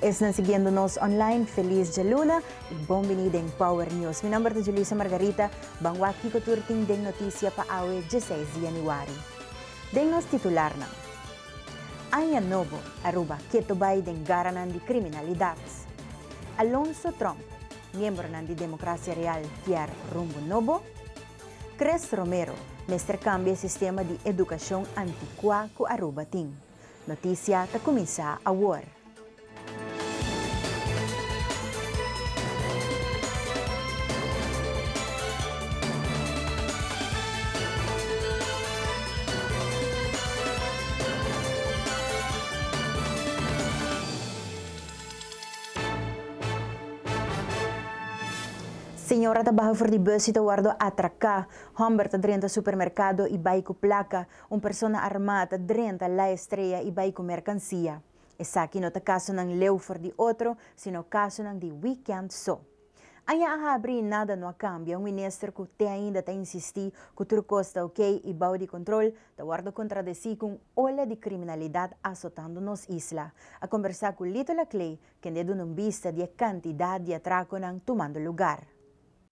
Esnan siguiendo nos online, feliz djaluna y bon bini den Power News. Mi nomber ta Julissa Margarita. Ban wak kico tur tin den noticia pa awe dieseis di januari. Den nos titularnan. Aña nobo, Aruba keto bay den garanan di criminalidad. Alonso Trump, miembronan di Democracia Real kier rumbo nobo. Chris Romero, mester cambia e sistema di educacion anticua cu Aruba tin. Notisia ta kuminsá awor. Señora ta baha for di bus y ta wordo atraká. Hòmber ta drenta supermerkado y bai ku plaka. Un persona armá ta drenta La Estrella i bai ku merkansia. Esaki no ta kasonan leu for di otro, sino kasonan di wikènt so. Aña a habri i nada no a kambia, un minister ku te ainda ta insistí ku tur kos ta ok i bou di kontrol, ta wòrdu kontradesí ku un ola di kriminalidat asotando nos isla. A kombersá ku Lito Laclé, kende duna un bista di e kantidat di atrakonan tumando lugar.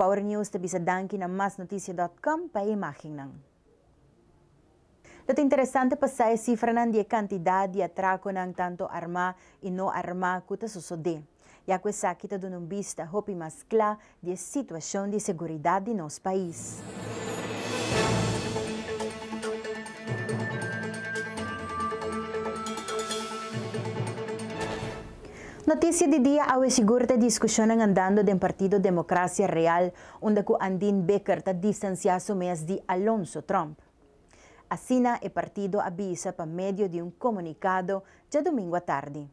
Power News ta bisa danki na masnoticia.com pa e imagennan. Lo ta interesante pa sa e sifranan di e kantidat di atrakonan tantu armá i no armá ku ta sosodé, ya ku esaki ta duna un bista hopi mas kla di e situashon di seguridat di nos pais. Noticia di dia Awe sigur ta e discusionnan andando den Partido Democracia Real unda cu Andin Becker ta distancia su mes di Alonso Trump. Asina e partido a bisa pa medio di un comunicado djadomingo atardi.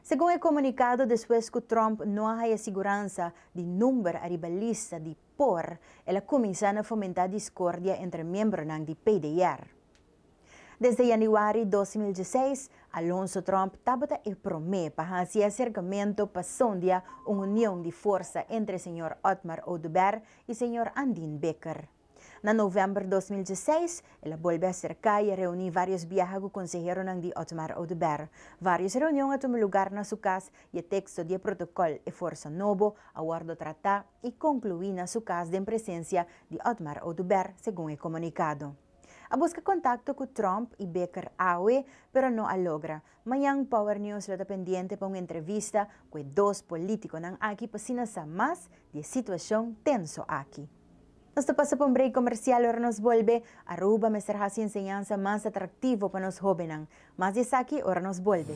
Segun e comunicado despues cu Trump no a haya siguransa di number ariba lista di por el a cuminsa na fomenta discordia entre miembronan di PDR. Desde yanüari dos mil dieseis, Alonso Trump tabata e promé pa hasi e aserkamentu pa sondia un union di forsa entre señor Otmar Oduber i señor Andin Becker. Na novèmber dos mil dieseis, el a bolbe aserká i a reuní vários biaha ku konseheronan di Otmar Oduber. Vários reunion a tuma lugar na su kas i e teksto di e protokòl e forsa nobo a wòrdu tratá i konkluí na su kas den presensia di Otmar Oduber, segun e komunikado. A buska kontakto ku Trump i Baker awe, pero no a logra. Mañan Power News lo ta pendiente pa un entrevista ku e dos politikonan aki pa asina sa mas di e situashon tenso aki. Nos ta pasa pa un break komersial, ora nos bolbe, Aruba mester hasi enseñansa mas atraktivo pa nos hóbennan. Mas di esaki ora nos bolbe.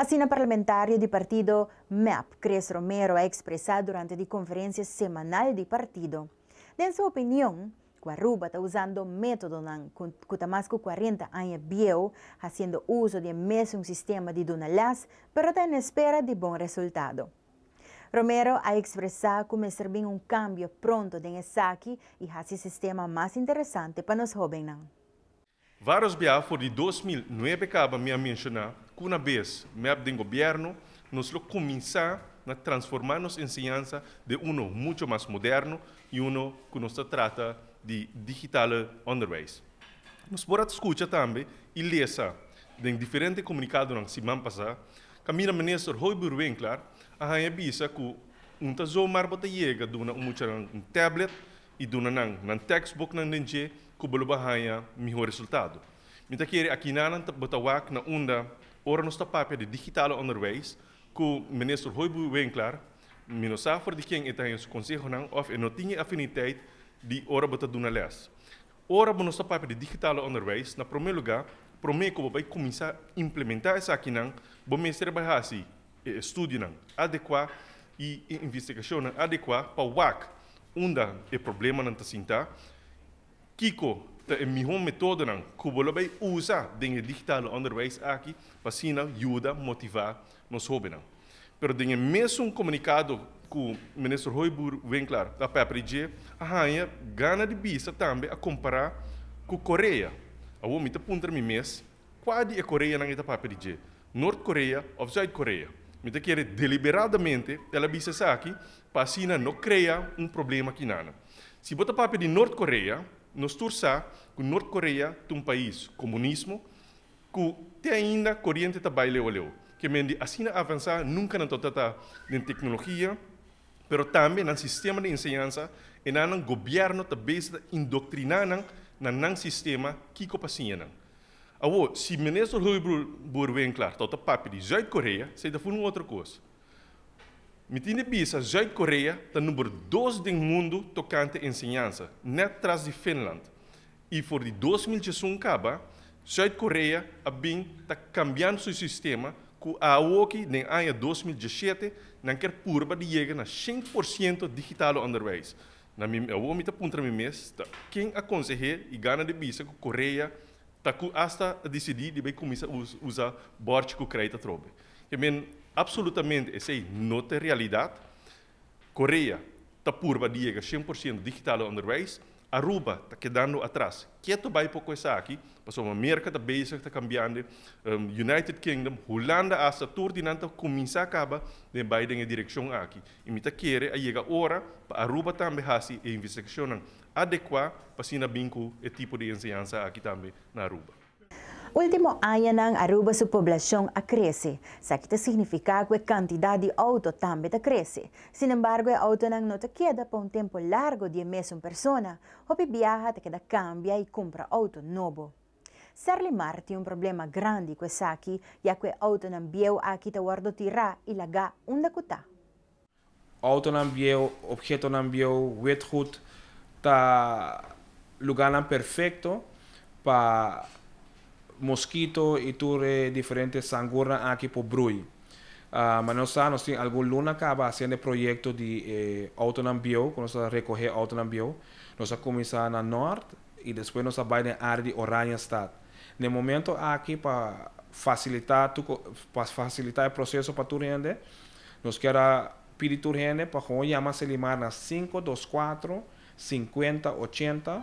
Asina parlamentario di partido mep, Chris Romero a ekspresá durante di konferensia semanal di partido. Den su opinion, ku Aruba ta usando métodonan ku ta mas ku kuarenta aña bieu, hasiendo uso di e mesun sistema di duna lès, pero ta en espera di bon resultado. Romero a ekspresá ku mester bin un kambio pronto den esaki i hasi sistema mas interesante pa nos hóbennan. Vários bia for di dos mil nuebe kaba mi a menshoná ku una bes mep den gobièrnu nos lo kuminsá na transformá nos enseñansa den uno mucho mas moderno i uno ku nos ta trata di digitale onderwijs. Nos por a ta skucha tambe i lesa den diferente komunikadonan siman pasá kaminda Minister Hoybur Winkler a haña bisa ku un ta zomaar bo ta yega duna un muchanan un tablet i duna nan nan tekstbuknan den dje ku bo lo bin haña mihó resultado. Mi ta kere akina nan bo ta wak na unda ora nos ta papia di digital onderwijs ku Minister Hoybue Winklaar, mi no sa for di ken e ta haña su konsehonan òf e no tin e afiniteit di ora bo ta duna lès. Ora bo nos ta papia di digital onderwijs, na promé lugá, promé ku bo bai kuminsá implementá esakinan, bo mester a bai hasi, e estudionan adekuá i e investigashonnan adekuá pa wak unda e problemanan ta sintá, kiko ta e mihó metódonan ku bo lo bai usa den e digitale ònderwijs aki pa asina yuda motivá nos hóbennan. Pero den e mesun komunikado ku Minister Hoybur Winkler a pèpera i dje a haña gana di bisa tambe a kompará ku Korea. Awor mi ta puntra mi mes Kua di e Koreanan e ta papia di dje, Noord Korea of Zuid Korea? Mi ta kere deliberadamente el a bisa esaki pa asina no krea un problema aki nana. Si bo ta papia di Noord Korea, nos tur sa ku Noord Korea ta un pais komunismo ku te ainda koriente ta bai leu a leu. Ke men di asina avansá nunka nan tabata ta den teknologia, pero tambe nan sistema di enseñansa, enan nan gobièrnu ta bes ta indoktriná nan na nan sistema kiko pa siña nan. Awor, si Minister Hoebrol Boerwinkler ta ota papia di Zuid-Korea, esei ta fun un otro kos. Mi tin di bisa Zuid-Korea ta number dos den mundu tokante enseñansa, nèt tras di Finland. I for di dos mil djesun kaba, Zuid Korea a bin ta kambiando su sistema ku awoki den aña dos mil diesshete nan kier purba di yega na shint por siento digitalo onderwijs. Na mi awo mi ta puntra mi mes ta ken a konseh'é i gana di bisa ku Korea ta ku asta a disidí di bai kuminsá usa bòrchi ku kreit atrobe. Ke men, Apsolutamente esei no ta realidat. Korea ta purba di yega shen por ciento digital na onderwijs, Aruba ta kedando atras. Ke ta bai por cu esaki? Pasobra Merca ta bezig ta cambiande, United Kingdom, Hulanda hasta tur di nan ta cuminsa caba den bai den e direccion aki. Y mi ta kere a yega ora pa Aruba tambe haci e investigacionnan adecua pa asina bin cu e tipo di enseñansa aki tambe na Aruba. Ultimo añanan Aruba su poblacion a crece. Saki ta significa cu e cantidad di auto tambe ta crece. Sin embargo e autonan no ta keda pa un tempo largo di e mesun persona. Hopi biaha ta keda cambia y cumpra auto nobo. Serlimar tin un problema grandi cu esaki ya cu e autonan bieu aki ta wordo tira y laga unda cu ta. Outonan bieu, obhetonan bieu, witgoed ta lugarnan perfecto pa moskito i tur e diferente sangurnan aki por brui. Mane nos sa, nos tin algun luna kaba hasiendo e proyekto di e outonan bieu, ku nos a rekohé outonan bieu. Nos a kuminsá na nort i despues nos a bai den área di Oranjestad. Den momento aki pa fasilitá tur, pa fasilitá e proseso pa tur hende, Nos kier a pidi tur hende pa gewoon yama Selimar na sinku dos kuatro sinkuenta ochenta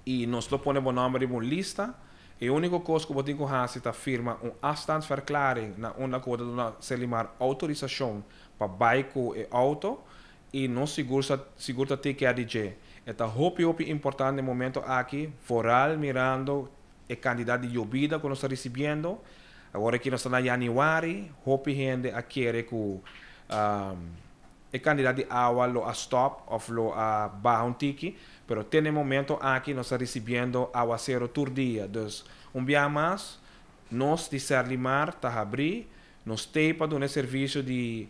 i nos lo pone bo nòmber riba un lista. E úniko kos ku bo tin ku hasi ta firma un afstandsverklaring na unda ku bo ta duna Selimar outorisashon pa bai ku e outo i nos sigur sa sigur ta tikeá di dje. E ta hopi hopi importante momentu aki vooral mirando e kantidat di yobida ku nos ta risibiendo. Awor aki nos ta na yaniwari, hopi hende a kere ku e kantidat di awa lo a stòp òf lo a baha un tiki, pero te na e momento aki nos ta risibiendo awasero tur dia. Dus un biaha mas nos di Serlimar ta habrí nos tei pa duna e servisio di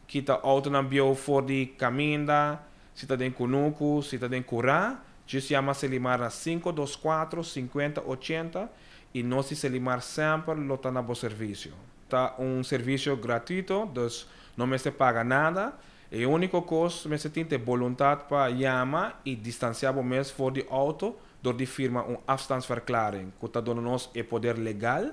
kita outonan bieu for di kaminda. Si ta den Kunuku, si ta den Kurá, djis yama Selimar na sinku dos kuatro, sinkuenta ochenta i nos di Selimar semper lo ta na bo servisio. Ta un servisio gratuito, dus no mester paga nada. E úniko kos, mester tin t'e boluntat pa yama i distansiá bo mes for di outo dor di firma un afstandsverklaring ku ta duna nos e poder legal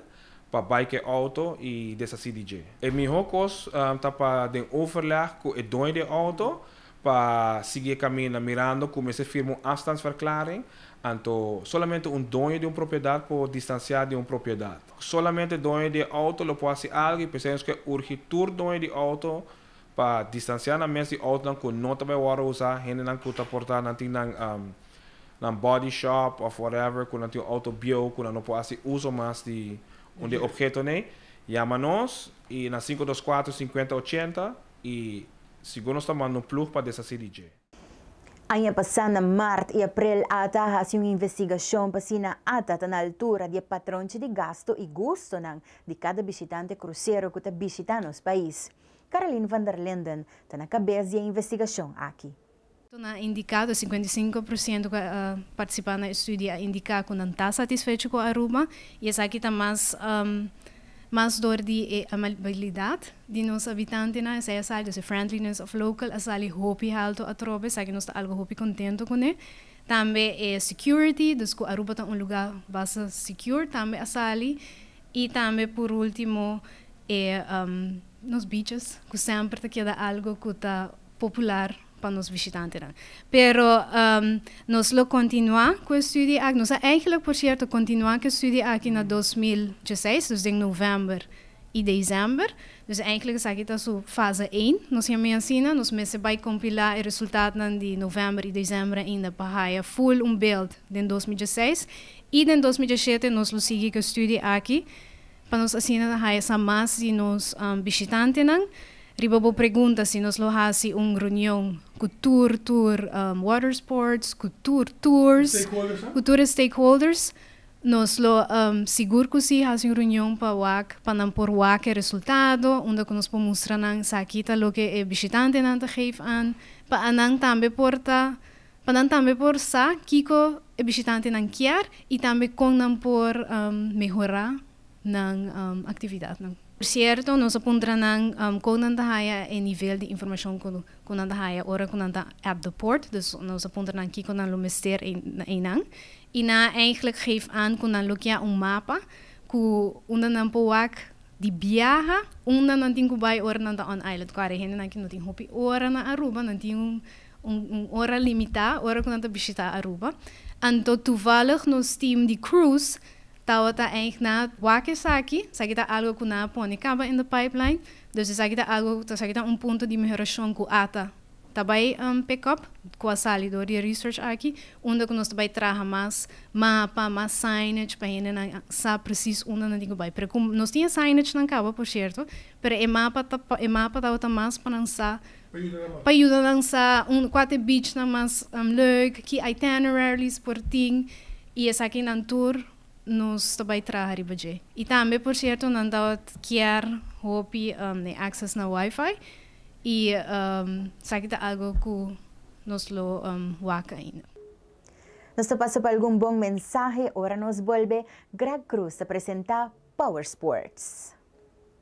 pa bai ku e outo i desasí di dje. E mihó kos ta pa den overleg ku e doño di e outo Pa sigui e kaminda mirando ku mester firma un afstandsverklaring, anto solamente un doño di un propiedat por distansiá di un propiedat. Solamente doño di e outo lo por hasi algu i p'esei nos ke urgi tur doño di outo pa distansiá nan mes di outonan ku no ta bai wòrdu usá, hendenan ku ta portá nan tin nan nan body shop òf whatever ku nan tin un outo bieu ku nan no por hasi uso mas di un di e obhetonan ei, yama nos i na sinku dos kuater, sinkuenta ochenta. I sigur nos ta manda un plug pa desasi di dje. Aña pasá na mart i aprel ata a hasi un investigashon pa si nan ata ta na altura di e patronchi di gastu i gustonan di kada bishitante krusero ku ta bishitá nos pais. Carolien van der Linden ta na kabes di e investigashon aki. Toon a indiká ku e sikuenta i sinku por siento ku a partisipá na e studio a indiká ku nan ta satisfecho ku Aruba i esaki ta mas mas dor di e amabilidat di nos habitantenan esei a sali, e friendliness of local, a sali hopi haltu atrobe esaki nos ta algu hopi kontento kuné. Tambe e security, dus ku Aruba ta un lugá basta secure tambe a sali I tambe pur ultimo e nos bichos cu semper ta keda algo cu ta popular pa nos vishitantenan. Pero nos lo continua cu e studie aki, nos a eigenlijk por cierto continua cu e studie aki na dos mil dieseis, dus den november y december, dus eigenlijk esaki ta su fase een, nos yama e asina, nos mester bay compila e resultatonan di november y december ainda pa haya full un beeld den dos mil dieseis I den dos mil diesiete nos lo sigui ku e studio aki pa nos asina ta haya sa mas di nos bishitantenan. Riba bo pregunta si nos lo hasi un reunion ku tur tur watersports, ku tur tours, ku tur e stakeholders, nos lo sigur ku si hasi un reunion pa wak pa nan por wak e resultado unda ku nos por mustra nan esaki ta loke e bishitantenan ta geef an pa anan tambe por ta. Pa nan tambe por sa kiko e bishitantenan kier i tambe kon nan por mehorá nan aktividatnan. Por sierto, nos a puntra nan kon nan ta haya e nivel di informashon ku nan ta haya ora ku nan ta app de port. Dus nos a puntra nan kiko nan lo mester einan. I nan a eigentlik geef aan ku nan lo kia un mapa ku unda nan por wak di biaha unda nan tin ku bai ora nan ta on island. Ku are hendenan ku no tin hopi ora na Aruba, nan tin un. Un ora limitá ora ku nan ta bishitá Aruba. Anto tuvallig nos team di cruise tabata eindg na wak esaki. Esaki ta algo ku nan a pone kaba in the pipeline. Dus esaki ta algo, esaki ta un punto di mehorashon ku ata ta bai pick up, ku a sali dor di e research aki, unda ku nos ta bai traha mas mapa, mas signage pa hendenan sa presis unda nan tin ku bai. Pero ku nos tin e signagenan kaba por sierto, pero e mapa ta, e mapa tabata mas pa nan sa Pa yuda nan sa un kua ta e beachnan mas leuk, ki itineraries por tin, i esaki nan tur nos ta bai traha riba dje. I tambe por sierto nan ta kier hopi e access na wifi i esaki ta algo ku nos lo wak ainda. Nos ta pasa pa algun bon mensahe ora nos bolbe. Greg Cruz ta presenta Power Sports.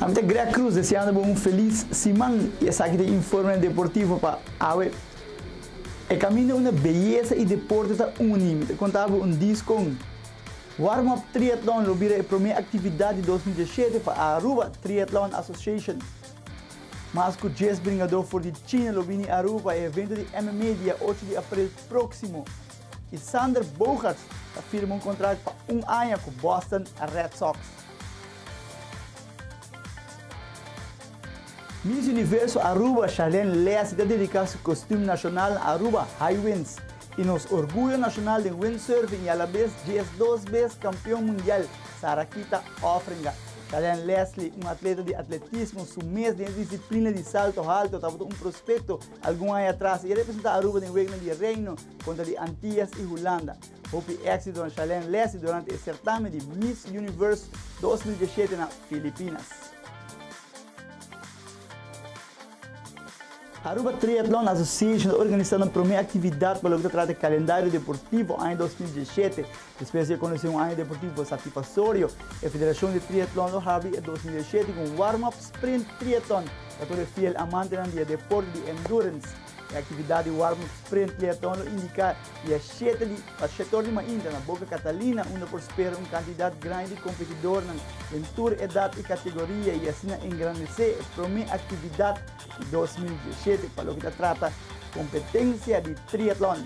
Ami ta Greg Cruz deseando bo un felis siman y esaki ta e Informe Deportivo pa awe. E caminda unda beyesa y deporte ta uni, mi ta conta bo un dis con. Warm Up Triathlon lo bira e prome actividad di dos mil dieschete pa Aruba Triathlon Association. Mas cu dies bringador for di China lo bini Aruba pa e evento di MMA dia ocho di april proximo y Xander Bogaerts ta firma un contract pa un aña cu Boston Red Sox. Miss Universo Aruba Charlene Leace ta dedica su costum nacional Aruba High Winds y nos orguyo nacional den windsurfing y a la vez dies dos vez campeon mundial Sarakita Offringa. Charlene Leslie, un atleta di atletismo su mes den e disciplina di salto halto, tabata un prospecto algun aña atras y e representa Aruba den wegnan di Reino contra di Antillas y Hulanda. Hopi éksito na Shalen Lessi durante e sertamen di Miss Universe dos mil diesshete na Filipinas. Aruba Triathlon Association ta organisando un prome actividad pa loke ta trata e calendario deportivo aña dos mil diesshete. Despues di e conoce un aña deportivo satipasorio, e Federacion di Triathlon lo habri e dos mil diesshete cu un warm-up sprint triathlon pa tur e fiel amantenan di e deporte di endurance. E aktividat di warm-up sprint triatlon lo indiká di a shete di pa shektor di mainta na Boca Catalina unda por spera un kantidat grandi di kompetidornan den tur edat i kategoria i asina engrandesé e promé aktividat di dos mil diesshete pa loke ta trata kompetensia di triatlon.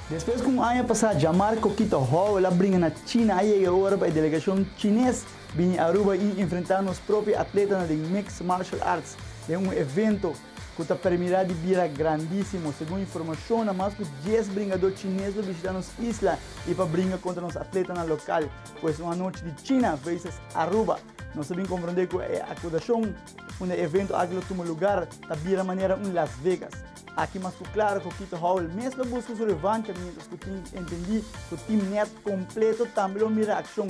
Despues ku un aña pasá djamar Coquito Howell a bringa na China a yega ora pa e delegashon chines Bini Aruba y enfrenta nos propio atletanan den Mixed Martial Arts den un evento cu ta permira di bira grandisimo. Segun informacionnan, mas cu dies bringador chines lo bishita nos isla y pa bringa contra nos atletanan local. Cu esun anochi di China versus Aruba, nos a bin comprende cu e acusacion unda e evento aki lo tuma lugar ta bira manera un Las Vegas. Aki mas cu claro cu Kito Howell mes lo busca su revancha mientras cu tin entendi cu team net completo tambe lo mira accion.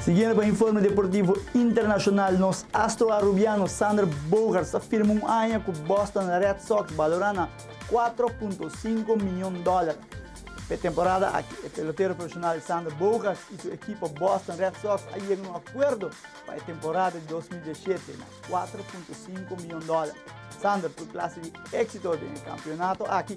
Siguiendo pa informe deportivo internacional nos astro Arubiano Sander Bogaerts ta firma un aña cu Boston Red Sox balora na cuatro punto cinco mion dollar p'e temporada aki. E pelotero profesional Sander Bogaerts y su ekipo Boston Red Sox a yega na un acuerdo pa e temporada di dos mil diesiete na cuatro punto cinco mion dollar. Sander tur clase di exito den e campeonato aki.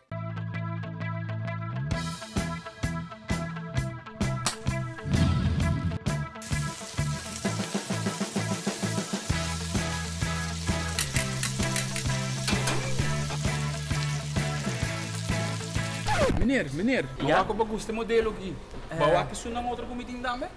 Meneer, meneer, awak oba gusta e modelo aki. Bo awak e su nan otro kumitin tambe?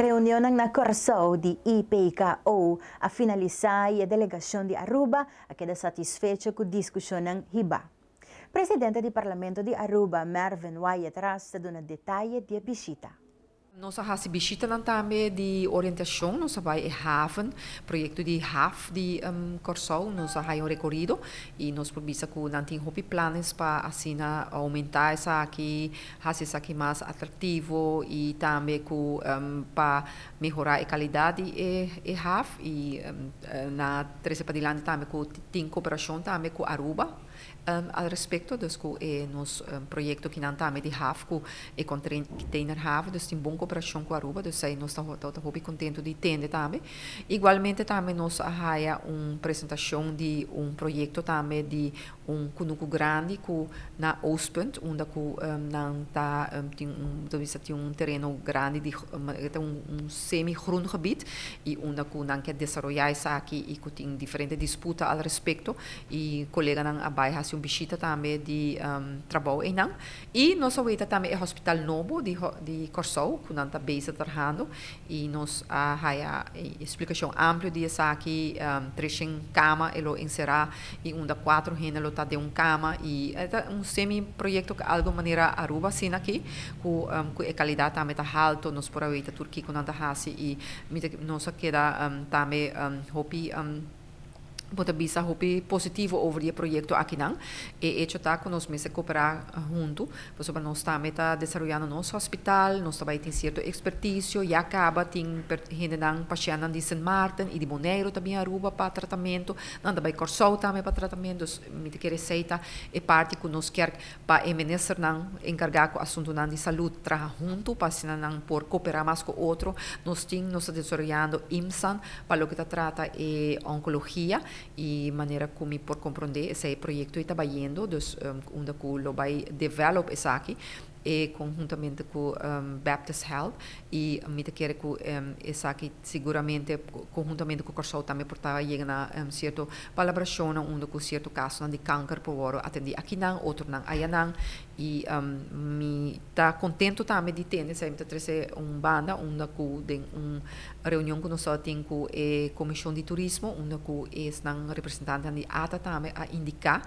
Reunionnan na Kòrsou di IPKO a finalisá i e delegashon di Aruba a keda satisfecho ku diskushonnan hibá. Presidente di Parlamento di Aruba, Mervyn Wyatt-Ras ta duna detaye di e bishita. Nos a hasi bishitanan tambe di orientashon. Nos a bai e haven, proyekto di haf di Kòrsou. Nos a haya un rekorido i nos por bisa ku nan tin hopi planes pa asina oumentá esaki, hasi esaki mas atraktivo i tambe ku pa mehorá e kalidat di e haf. I nan a trese padilanti tambe ku tin koperashon tambe ku Aruba. Al respecto dus cu e nos proyecto ki nan ta ami di haf cu e container haf dus tin bon cooperacion cu Aruba dus ta nos ta hopi contento di tende tambe. Igualmente tambe nos a haya un presentacion di un proyecto tambe di un cunucu grandi cu na Oostpunt unda cu nan ta tin un ta bisa tin un tereno grandi di e ta un semi-grondgebied y unda cu nan ke desaroya esaki y cu tin diferente disputa al respecto y coleganan a bay haci un bishita tambe di trabou eynan y nos a weta tambe e hospital nobo di Corsou cu nan ta bezig trahando y nos a haya e explicacion amplio di esaki treshen cama e lo encera y unda cuatro hende lo ta den un cama y e ta un semi proyecto ca algo manera Aruba asina aki cu cu e calidad tambe ta halto nos por a weta tur kico nan ta haci y mi ta nos a keda tambe hopi bo ta bisa hopi positivo over di e proyecto akinan e hecho ta cu nos mester coopera hunto pasobra nos tambe ta desaroyando nos hospital nos ta bay tin cierto experticio ya caba tin per hendenan pacientnan di Sint Maarten y di Boneiroe ta bin Aruba pa tratamento Nan ta bai Kòrsou tambe pa tratamentu, dus mi ta kere seita e parti ku nos kèrk pa e ministernan enkargá ku asuntunan di salud traha huntu pa asina nan por koperá mas ku otro. Nos tin nos ta desaroyando IMSAN pa loke ta trata e onkologia i manera ku mi por komprondé esei e proyekto ei ta bayendo, dus unda ku lo bai develop esaki. e conhuntamente cu Baptist Health y mi ta kere cu esaki seguramente conhuntamente cu Corsou tambe por ta yega na cierto palabracionnan unda cu cierto casonan di kanker por worde atendi akinan, otronan ayanan y mi ta contento tambe di tene esaki mi ta trece un banda unda cu den un reunion cu nos tabata tin cu e Comision di Turismo unda cu esnan representantenan di ata tambe a indica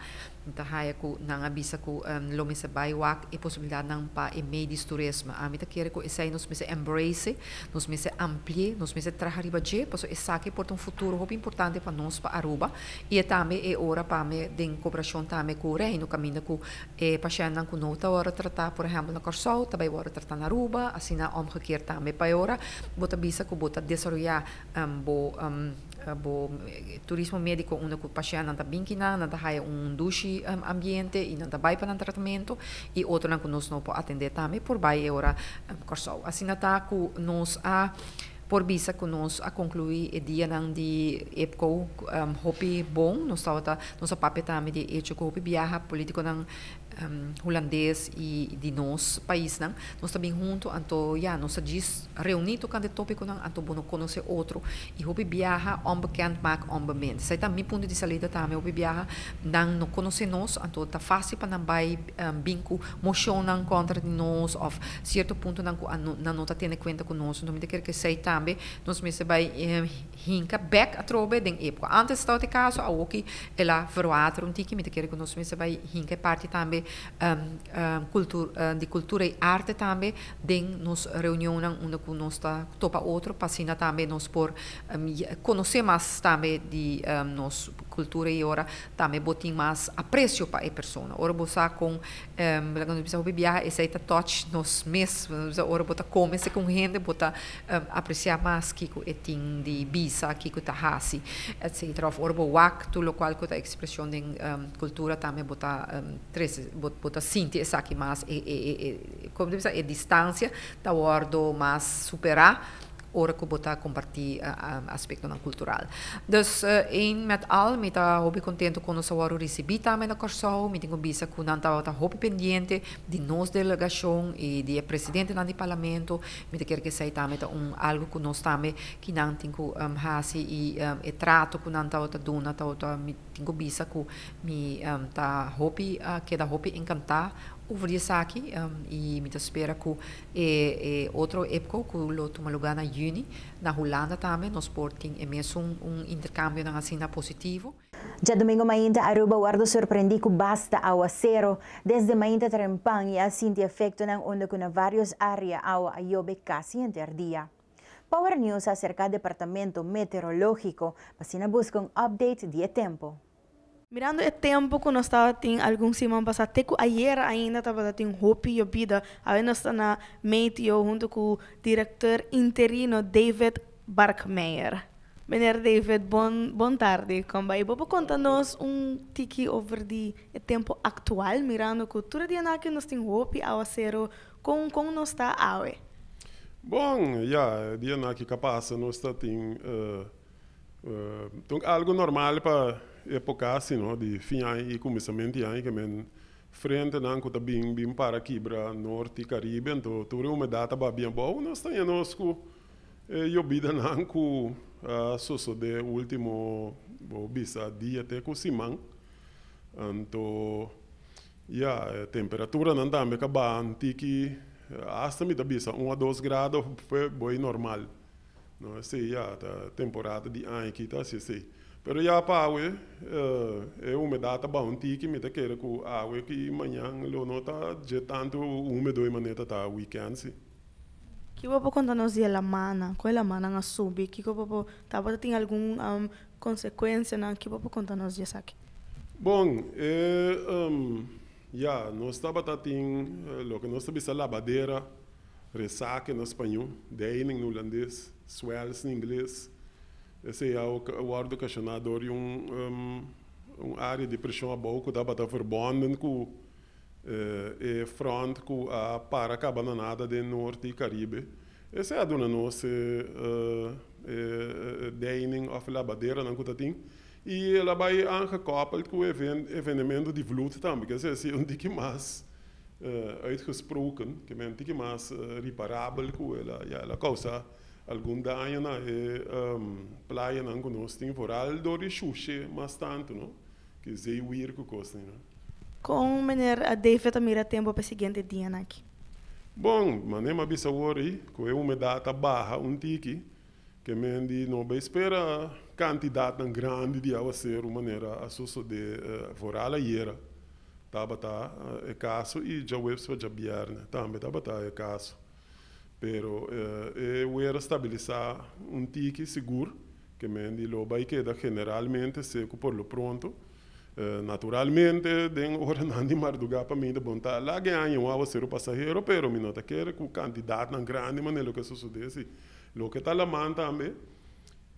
Mi ta haya cu nan a bisa cu lo mester bay wak e posibilidadnan pa e medios turismo. Ami ta kere cu esey nos mester embrace, nos mester amplié, nos mester traha riba dje, pasobra esaki por ta un futuro hopi importante pa nos, pa Aruba. Y e tambe e ora pa mi, den cooperacion tambe cu Reino, caminda cu e pashentnan cu no ta wordo trata, por ehempel na Corsou, ta bay wordo trata na Aruba, asina omgekeerd tambe. Pa e ora bo ta bisa cu bo ta desaroya bo. Ta bo turismo médiko unda ku pashennan ta bin kinan, nan ta haya un dushi ambiente i nan ta bai pa nan tratamentu, i otronan ku nos no por atendé tambe por bai e ora Kòrsou. Asina ta ku nos a por bisa ku nos a konkluí e dianan di EPCO hopi bon. Nos tabata, nos a papia tambe di e echo ku hopi biaha polítikonan. Hulandes y di nos paisnan, nos ta bin hunto anto ya nos ta djis reuni tocante e topiconan anto bo no conoce otro y hopi biaha onbekend maak onbemind. Esai ta mi punto di salida tambe, hopi biaha nan no conoce nos anto ta facil pa nan bay bin cu mocionnan contra di nos of cierto puntonan cu nan no ta tene cuenta cu nos. Enton mi ta ker cu esai tambe nos mester bay Hinka bek atrobe den e pko antes tabata e kaso awoki el a verwater un tiki mi ta kere ku nos mester bai hinka e parti tambe di kultura i arte tambe den nos reunionnan unda ku nos ta topa otro pa asina tambe nos por konosé mas tambe di nos kultura i ora tambe bo tin mas aprecio pa e persona ora bo sa kon nos bisa hopi biaha esei ta touch nos mes nos bisa ora bo ta kome seken un hende bo ta. apreciá mas kico e tin di bisa, kico ta haci, etc. Of ora bo wak tur locual cu ta expresión den cultura tambe bo ta trece, bo ta sinti esaki mas, como ta bisa, e distancia ta wordo mas superá ora cu bo ta compartí aspectonan cultural. Dus Eén met al, mi ta hopi contento cu nos a wordo ricibí tambe na Corsou. Mi tin un bisa cu nan tabata hopi pendiente di nos delegación y di e presidentenan di Parlamento. Mi ta kier ku esei tambe ta un algu ku nos tambe ki nan tin ku hasi i e trato ku nan tabata duna tabata mi tin ku bisa ku mi ta hopi keda hopi enkantá over di esaki i mi ta spera ku e e otro epco ku lo tuma lugá na yüni na Hulanda tambe nos por tin e mesun un interkambionan asina positivo. Djadumingu mainta Aruba wordo sorprendí ku basta awasero. Desde mainta trempan i a sinti efektonan unda ku na varios área awa a yobe kasi henter dia. Power News a serká departamento meteorológiko pa asina buska un update di e tempu. Mirando e tempu ku nos tabatin algun siman pasá te ku ayera ainda tabata tin hopi yobida, awe nos ta na meteo huntu ku direktor interino David Barkmeyer. Meneer David, bon bon tarde. Kombay bo por konta nos un tiki over di e tempo aktual, mirando ku tur e dianaki nos tin hopi awasero, kon kon nos ta awe? Bon, ya, e dianaki ka pasa nos ta tin tong algu normal pa epoka asi no, di fin aña i kuminsament di aña, ke men frentenan ku ta bin bin para kibra Norte i Caribe, enton tur e humedat ta babia abou, nos ta ña nos ku E yobidanan ku a sosodé último bo bisa dia te ku siman. Anto ya, e temperaturanan tambe ka baha anti ki asta mi ta bisa un a dos grado p'e bo ei normal. No esei ya ta temporada di aña aki ta hasi esei. Pero ya pa awe e humedat ta baha un ti ki mi ta kere ku awe ki mañan lo no ta dje tantu húmedo ei manera ta ta weekend si. Kico bo por conta nos di e lamannan? Con e lamannan a subi? Kico bo por tabata tin algun consecuencianan? Kico bo por conta nos di esaki? Bon, e, um, ya, nos tabata tin loke nos ta bisa labadera, resaque na spaño, deining na hulandes, swells na ingles. Esey a wordo ocacioná dor di un, um, un area di presion abou cu tabata verbonden cu. e front cu a para caba na nada den Norte y Caribe, esey a duna nos e deining of labaderanan cu ta tin, y el a bay aangekoppeld cu e evenemento di vloed tambe, kier ser esey un tiki mas uitgesproken, kier men tiki mas reparabel cu el a, ya, el a causa algun daño na e playanan cu nos tin, vooral door di shushe mas tanto, no. K'esei wiri ku kosnan, no? Kon Meneer David a mira tempu p'e siguiente dianan aki? Bon, mané m'a bisa awor ei, ku e humedat a baha un tiki, k'e men di no bai spera kantidatnan grandi di awaseru manera a sosodé foral ayera. Tabata e kaso i djaweps pa djabièrnè tambe tabata e kaso. Pero e wer a stabilisá un tiki sigur. Kemen di lo bai keda generalmente seku por lo pronto. Naturalmente, den oranan di mardugá pa mi ta bon ta laga e aña un aguasero pasahero, pero mi no ta kere ku kantidatnan grandi manera loke a sosodé así. Loke ta laman tambe,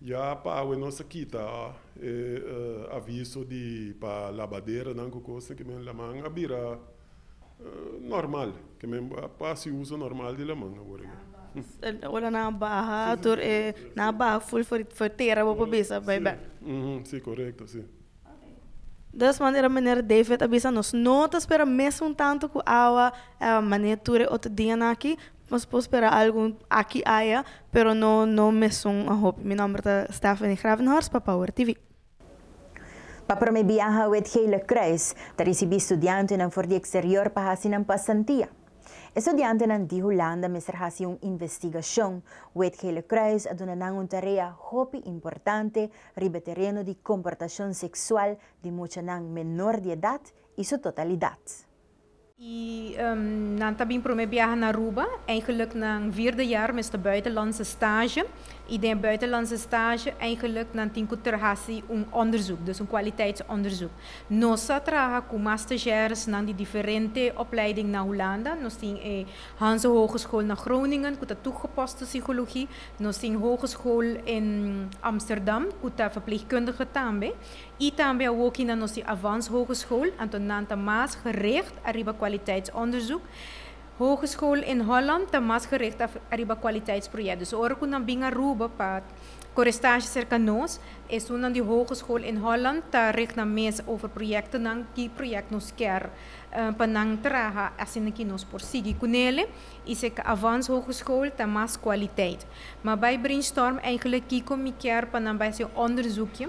ya pawe nos a kita e aviso di pa labaderanan ku kos, kemen laman a bira. normal ke men pa hasi uso normal di laman awor eke. Ora nan a baha tur e nan a baha ful for for e tera bo por bisa bai bek. Si korekto si. Des manera miner David a bisa nos no ta spera mes un tanto ku awa mane tur e otro dianan aki nos por spera algu aki aya pero no no mesun a hopi mi nomber ta Stephanie Gravenhorst pa Power TV. Pa promé biaha Wet Gele Kruis ta risibí studiantenan for di eksterior pa hasi nan pasantia. E studiantenan di Hulanda mester hasi un investigashon. Wet Gele Kruis a duna nan un tarea hopi importante riba e tereno di komportashon seksual di muchanan menor di edat i su totalidat. I nan ta bin prome biaha na Aruba. Eigenlijk nan vierde jaar mester buitenlandse stage. I den e buitenlandse stage eigenlijk nan tin ku ter hasi un onderzoek, dus un kwaliteitsonderzoek. Nos a traha ku mas stagiairesnan di diferente opleiding na Hulanda. Nos tin e Hanze Hogeschool na Groningen ku ta toegepaste psigologie. Nos tin Hogeschool in Amsterdam ku ta verpleegkundige tambe. I tambe a woki na nos di Avans Hogeschool, anto nan ta mas gericht ariba kwaliteitsonderzoek. Hogeschool in Holland ta mas gericht ariba kwaliteitsproject. Dus ora ku nan bin Aruba pa kore stashi serka nos, estunan di Hogeschool in Holland ta richt nan mes over projectonan, ki project nos ker pa nan traha asina ki nos por sigui ku nele i sek Avans Hogeschool ta mas kwaliteit. Ma bai brainstorm eigenlik kiko mi ker pa nan bai hasi un onderzoekje.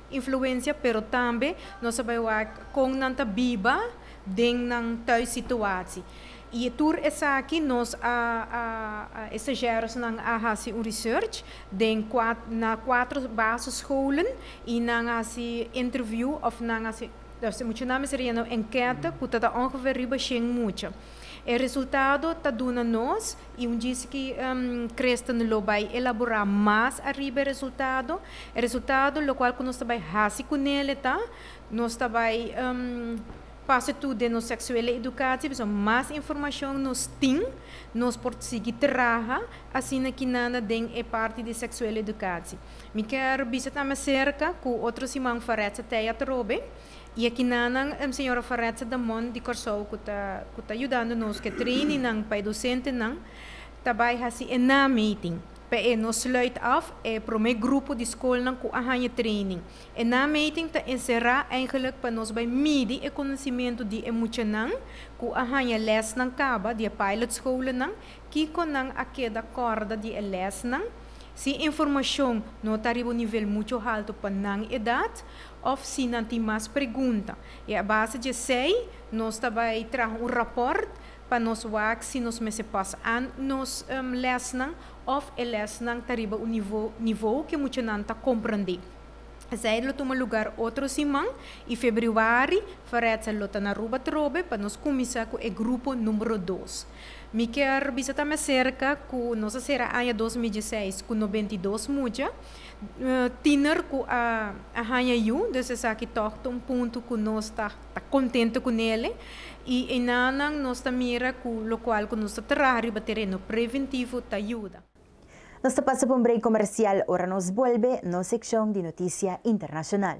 Influencia pero tambe nos a bai wak kon nan ta biba den nan thuis situaci y tur esaki nos a estagiaros nan a haci un research den na cuatro basisscholen y nan a haci interview of nan a haci nos mucha nan mester yena un enquete cu ta ta ongeveer riba shen mucha e resultado ta duna nos I un djis ki Kristen lo bai elaborá mas ariba e resultado. E resultado lokual ku nos ta bai hasi ku Nele ta, nos ta bai pasa tur den nos seksuele edukatie, pasobra mas informashon nos tin, nos por sigui traha asina ki nana den e parti di seksuele edukatie. Mi ker bisa tambe serka ku otro siman Faretza Teiatrobe. Y akina nan Sra. Farretze Damon di Kòrsou ku ta ku ta yudando nos ku e training nan pa e dosentenan ta bai hasi e nameting. P'e nos sluit af e promé grupo di skolnan ku a haña training. E nameting ta enserá eigenlik pa nos bai midi e konosementu di e muchanan ku a haña lèsnan kaba di e pilot skolenan, kiko nan a keda kòrda di e lèsnan, si e informashon no ta riba un nivel muchu haltu pa nan edat Òf si nan tin mas pregunta. I a base dje esei nos ta bai traha un rapòrt pa nos wak si nos mester pòs an nos lèsnan òf e lèsnan ta riba un nivou ke muchanan ta komprondé. Esei lo tuma lugar otro siman i febrüari Ferètsa lo ta na Aruba trobe pa nos kuminsá ku e grupo numbero dos. Mi kier bisa ta mester serka ku nos a sera aña dos mil dieseis ku noventa i dos mucha. Tiener cu a haña yu, dus esaki tog ta un punto cu nos ta contento cu nele. Y enanan nos ta mira cu locual cu nos ta traha riba tereno preventivo ta yuda. Nos ta pasa pa un break comercial, ora nos bolbe nos seccion di noticia internacional.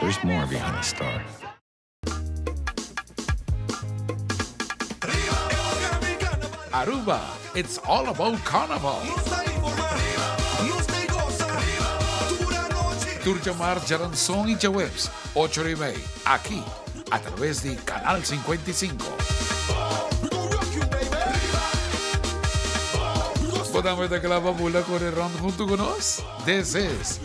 There's more behind the star. Aruba, it's all about carnaval! Tur djamar djaranson y djaweps ocho ora y mei aki a traves di Canal Cincuenta y Cinco. Bo tambe ta kla pa bula kore rond hunto cu nos? This is.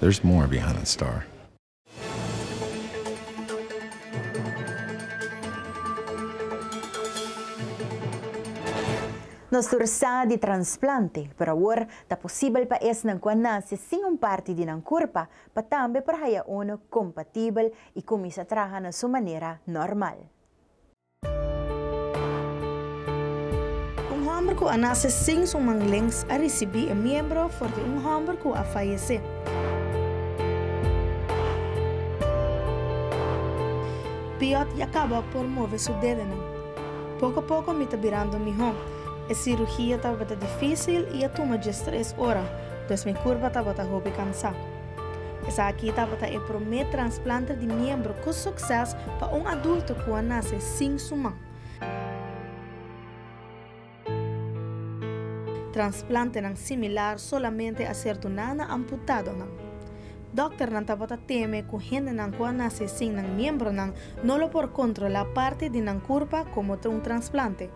There's more behind star. Nos tur sa di transplante, pero awor ta posibel pa esnan ku a nase sin un parti di nan kurpa pa tambe por haya unu kompatibel i kuminsá traha na su manera normal. Un hòmber ku a nase sin su man lenks a risibí e miembro for di un hòmber ku a fayesé. Piòt ya kaba por move su dedenan. Poko poko mi ta birando mihó. E sirugia tabata difísil i a tuma djes tres ora, pues mi kurpa tabata hopi kansá. Esaki tabata e promé transplante di miembro ku sukses pa un adulto ku a nase sin su man. Transplantenan similar solamente a ser duná na amputadonan. Dòkternan tabata teme ku hendenan ku a nase sin nan miembronan no lo por kontrolá parti di nan kurpa komo ta un transplante.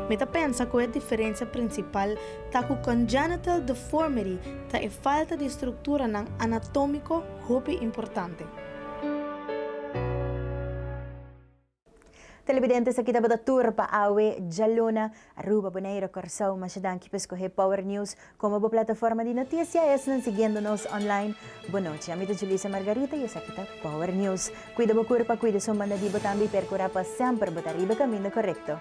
Mi ta pensa ku e diferensia prinsipal Ta ku congenital deformity ta e falta di strukturanan anatómiko hopi importante. Telebidentes, aki tabata tur pa awe djaluna, Aruba, Boneiru, Kòrsou. Masha danki pa skohé Power News komo bo plataforma di notisia. Esnan siguiendo nos online, bon nochi. Ami ta Julissa Margarita i esaki ta Power News. Kuida bo kurpa, kuida su mandadibo tambe i perkurá pa semper bo ta riba e kaminda korekto.